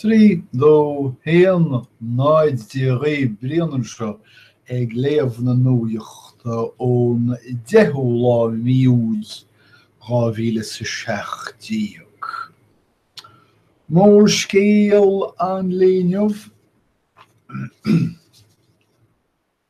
Trí dó a haon náid Dia dhaoibh Brian anseo ag léamh na nuachta ón 10ú lá mí Iúil 2017. Mórscéal an lae inniu.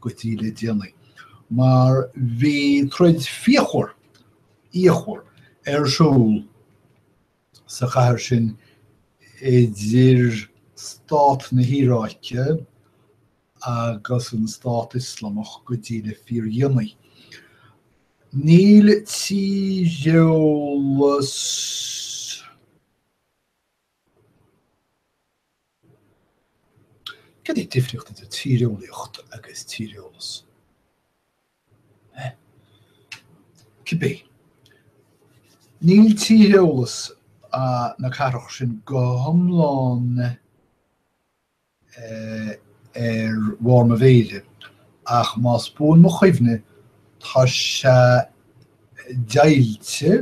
go dtí le déanaí, mar bhí troid fhíochmhar, fhíochmhar ar siúl sa chathair sin idir stát na hIaráice agus an Stát Ioslamach go dtí le fíordhéanaí. Níl tíreolas. Cad é an difríocht idir tíreolaíocht agus tíreolas? Cibé, níl tíreolas na cathrach sin go hiomlán ar bharr mo mhéire, ach más buan mo chuimhne, tá sé deighilte,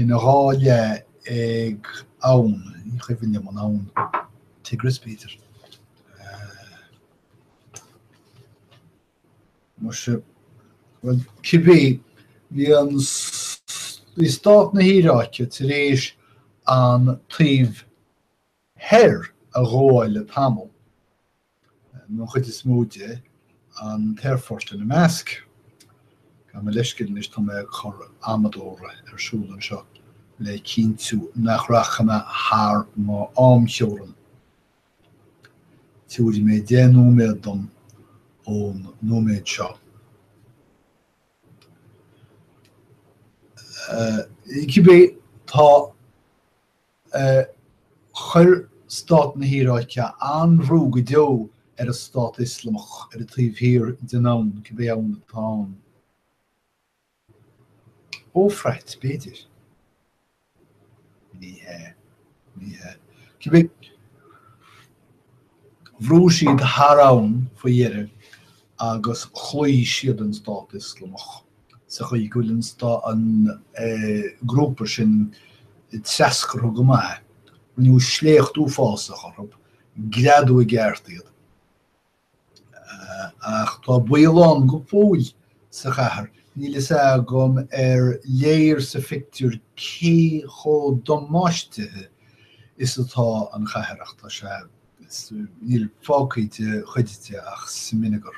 ina dhá leath ag abhainn, ní cuimhin liom an abhainn, Tigris b'fhéidir. cibé, bhí an, bhí stát na hIaráice tar éis an taobh Thoir, a ghabháil le tamall, nó an chuid is mó de, an t-aerfort ina measc. Gabh mo leithscéal anois, tá mé ag cur amadóra ar siúl anseo le cinntiú nach rachaidh mé thar m'amtheorainn. Tabharfaidh mé deich nóiméad dom ón nóiméad seo. Cibé, tá. chuir stát na hIaráice an-bhrú go deo ar an Stát Ioslamach ar an taobh thiar den abhainn, cibé abhainn atá ann, an Eofrait, b'fhéidir? Ní hea. Ní hea. Cibé, bhrúigh siad thar abhainn faoi dheireadh agus chloígh siad an Stát Ioslamach. sa chaoi go bhfuil an stát, an grúpa sin treascartha go maith, rinneadh sléacht uafásach orthu, greadadh i gceart iad. Ach tá baol ann go fóill sa chathair, níl a fhios agam an léir sa phictiúr cé chomh damáistithe is atá an chathair ach tá sé, níl fágtha de chuid de ach smionagar.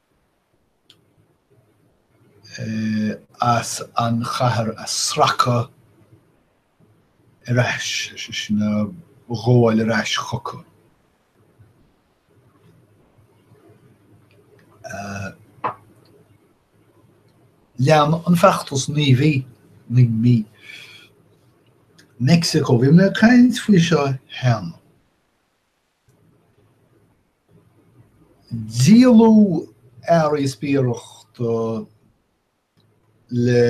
as an chathair a sracadh ar ais, is é sin, a ghabháil ar ais chucu. Lean an feachtas naoi mí, naoi mí, Meicsiceo. Bhí mé ag caint faoi seo cheana. Díoladh earraí spiaireachta le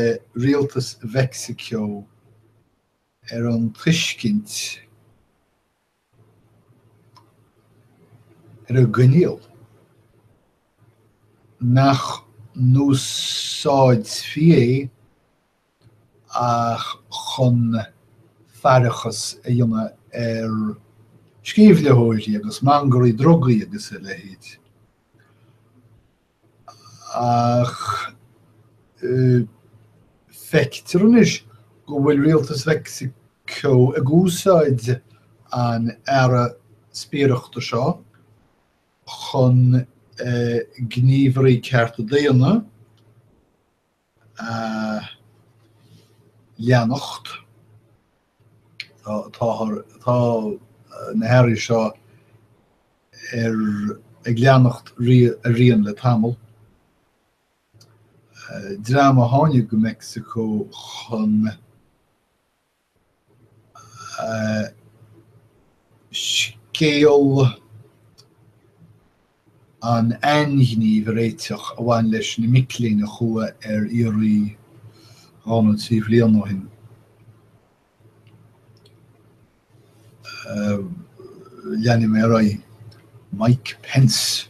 rialtas Mheicsiceo ar an tuiscint, ar an gcoinníoll, nach n-úsáidfí é, ach chun faireachas a dhéanamh ar sceimhlitheoirí agus mangairí drugaí agus a leithéid. Ach feictear anois go bhfuil rialtas Mheicsiceo ag úsáid an earra spiaireachta seo chun gníomhairí cearta daonna, a leanacht. Tá, tá na hearraí seo ag leanacht a rian le tamall. Dream a tháinig go Meicsiceo chun. scéal an ainghnímh a réiteach a bhain leis na mic léinn a chuaigh ar iarraidh dhá nó trí bhliain ó shin. Leanfaidh mé ar aghaidh. Mike Pence.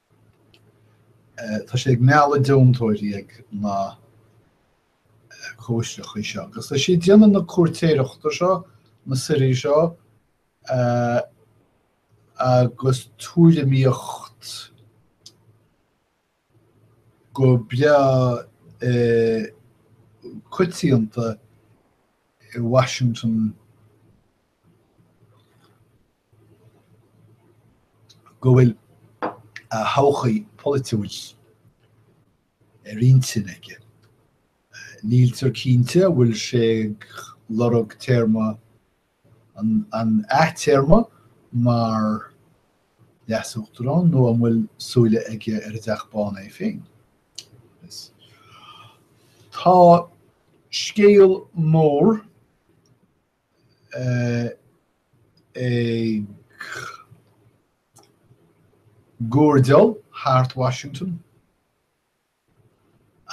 Tá sé ag mealladh deontóirí ag na cóisireachaí seo agus tá sé ag déanamh na cuairtéireachta seo, na suirí seo agus tuairimíocht go beo coitianta i Washington. go bhfuil a thodhchaí pholaitiúil ar intinn aige. Níltear cinnte an bhfuil sé ag lorg téarma an athtéarma mar leasuachtarán nó an bhfuil súile aige ar an dTeach Bán é féin. Tá scéal mór ag guairdeall thart Washington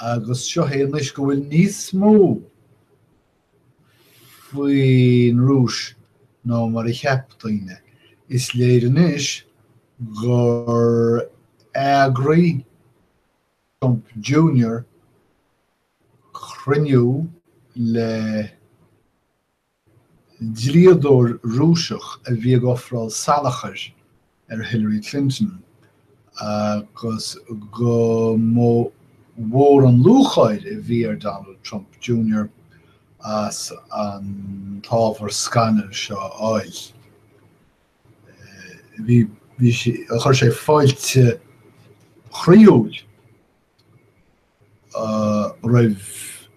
agus sé anois go bhfuil níos mó faoin Rúis ná mar a cheap daoine. Is léir anois gur eagraigh Trump Junior cruinniú le dlíodóir Rúiseach a bhí ag ofráil salachair ar Hillary Clinton agus go mba mhór an lúcháir a bhí ar Donald Trump Junior as an ábhar scannail seo a fháil. Bhí sé, chuir sé fáilte chroíúil roimh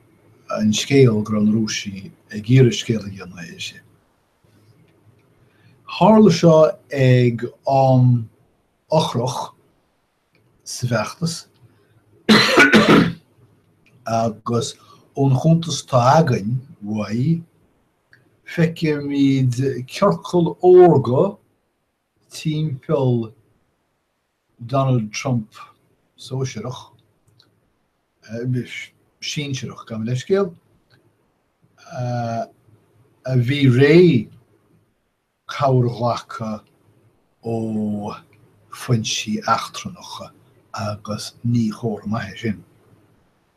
an scéal go raibh na Rúisigh ag iarraidh scéal a thabhairt dó. Tharla seo ag am eochrach sa bhfeachtas agus ón chuntas atá againn uaidh, feicimid ciorcal órga, timpeall Donald Trump sóisearach, sinsearach, gabh mo leithscéal, a bhí réidh cabhair a ghlacadh ó foinsí eachtrannacha agus ní comhartha maith é sin.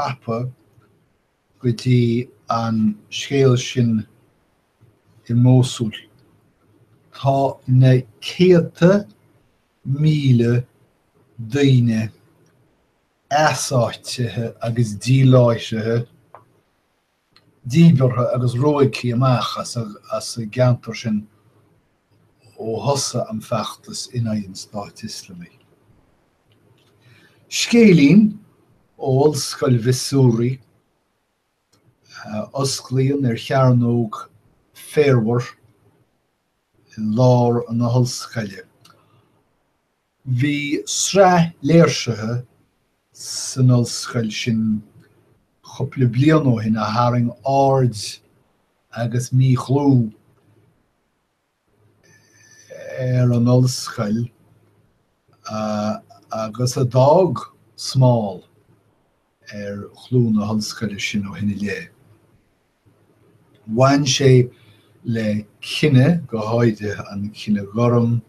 tapa go dtí an scéal sin i Mósúil. Tá na céadta míle daoine easáitithe agus díláithrithe díbeartha agus ruaigthe amach as an gceantar sin ó thosaigh an feachtas in aghaidh an Stáit Ioslamaigh. Scéilín ó Ollscoil Mhissouri a osclaíonn ar chearnóg féarmhar i lár na hollscoile. Bhí sraith léirsithe san ollscoil sin cupla bliain ó shin a tharraing aird agus míchlú ar an ollscoil agus a d'fhág smál ar chlú na hollscoile sin ó shin i leith. Bhain sé le cine, go háirithe an cine gorm,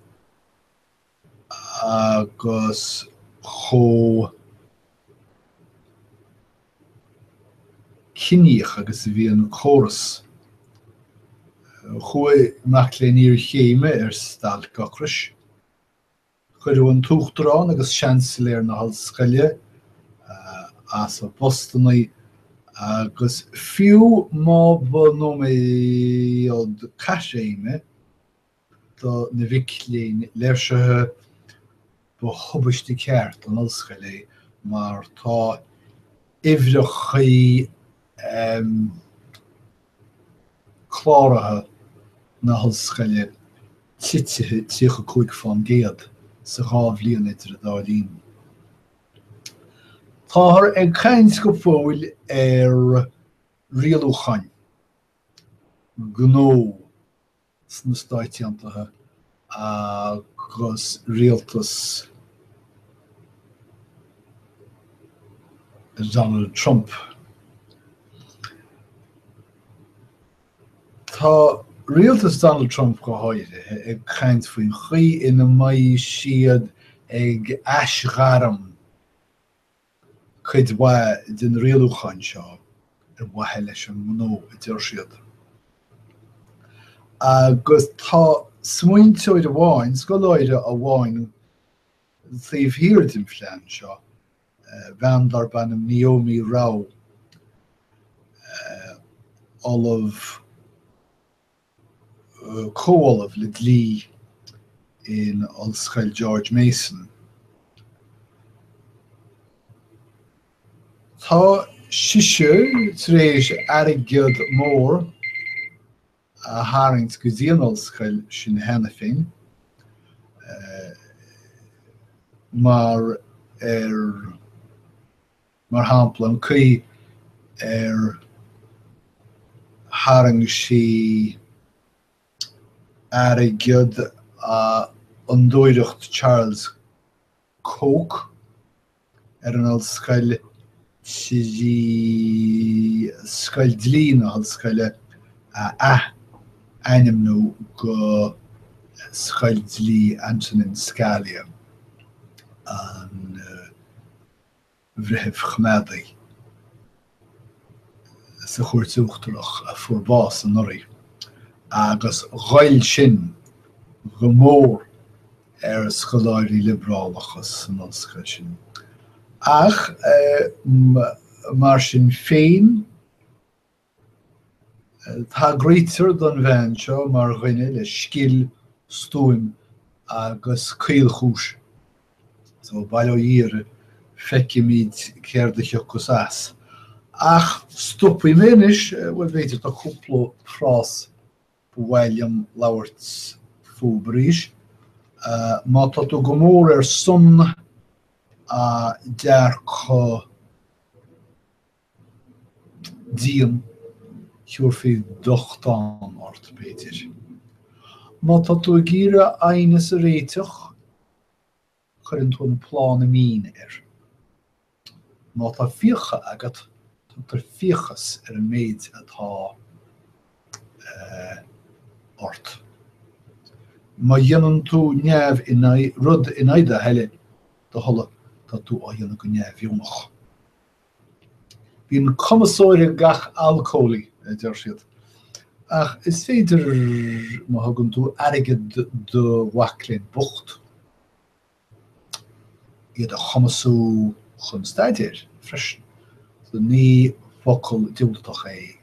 agus chomh ciníoch agus a bhí an córas. Chuaigh mac léinn iarchéime ar stailc ocrais. Cuireadh an tUachtarán agus Seansailéir na hOllscoile as a bpostanna, agus fiú má ba nóiméad caithréime, do na mhic léinn léirsithe, ba thubaiste ceart don ollscoil é mar tá uimhreacha cláraithe na hollscoile titithe 35 fán gcéad sa dhá bhliain idir an dá linn. Táthar ag caint go fóill ar rialúcháin gnó sna Stáit Aontaithe agus rialtas Donald Trump. Tá rialtas Donald Trump go háirithe ag caint faoin chaoi ina mbeidh siad ag aisghairm cuid mhaith den rialúchán seo ar mhaithe leis an ngnó, a deir siad. Agus tá smaointeoir amháin, scoláire amháin taobh thiar den phlean seo, bean darb ainm Neomi Rao, ollamh, comhollamh le dlí in Ollscoil George Mason. Tá sise tar éis airgead mór a tharraingt go dtí an ollscoil sin cheana féin mar ar mar shampla, an chaoi ar tharraing sí airgead ó Fhondúireacht Charles Koch ar an ollscoil trí Scoil Dlí na hollscoile a ath-ainmniú go Scoil Dlí Antonin Scalia, an. breitheamh coimeádach sa Chúirt Uachtarach a fuair bás anuraidh, agus ghoill sin go mór ar scoláirí liobrálacha san ollscoil sin. Ach mar sin féin. Tagraítear don bhean seo mar dhuine le scil, stuaim agus caolchúis. So, bail ó Dhia uirthi, feicfimid céard a thiocfas as. Ach stopfaidh mé anois, bhuel, b'fhéidir tá cúpla frás ba mhaith liom labhairt fúthu arís. Má tá tú go mór ar son dearcadh. dian, thiúrfaí dochtán ort, b'fhéidir. Má tá tú ag iarraidh aighneas a réiteach, cuireann tú an plána mín air. Má tá fiacha agat, tugtar fiachas ar an méid atá ort. Má dhéanann tú neamh in aghaidh, rud in aghaidh do thoile, do thola, tá tú á dhéanamh go neamhdheonach. Bíonn cumasóir ag gach alcólaí, a deir siad. Ach is féidir, má thugann tú airgead do mhac léinn bocht, iad a chumasú chun staidéir, freisin. So ní focal diúltach é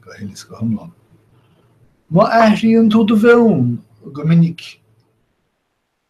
go huile is go hiomlán. Má athraíonn tú do mheon go minic,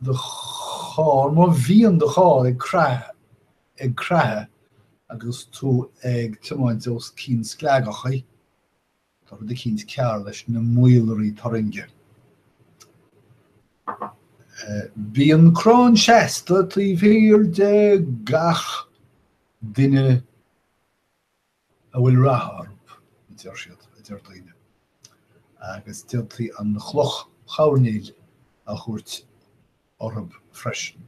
do charr, má bhíonn do charr ag creathadh agus tú ag tiomáint os cionn sclaigeachaí, tá rud eicínt cearr leis na maolairí turrainge. Bíonn crann seasta taobh thiar de gach duine. a bhfuil rath orthu, a deir siad, a deir daoine. Agus d'fhéadfaí an chloch choirnéil a thabhairt orthu freisin.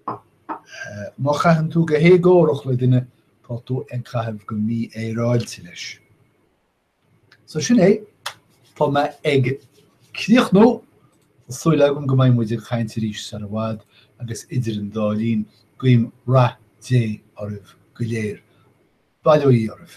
Má chaitheann tú go héagórach le duine, tá tú ag caitheamh go mífhéaráilte leis. So sin é, tá mé ag críochnú, súil agam go mbeidh muid ag caint arís sar i bhfad agus idir an dá linn, guím rath Dé oraibh go léir. Bail ó Dhia oraibh.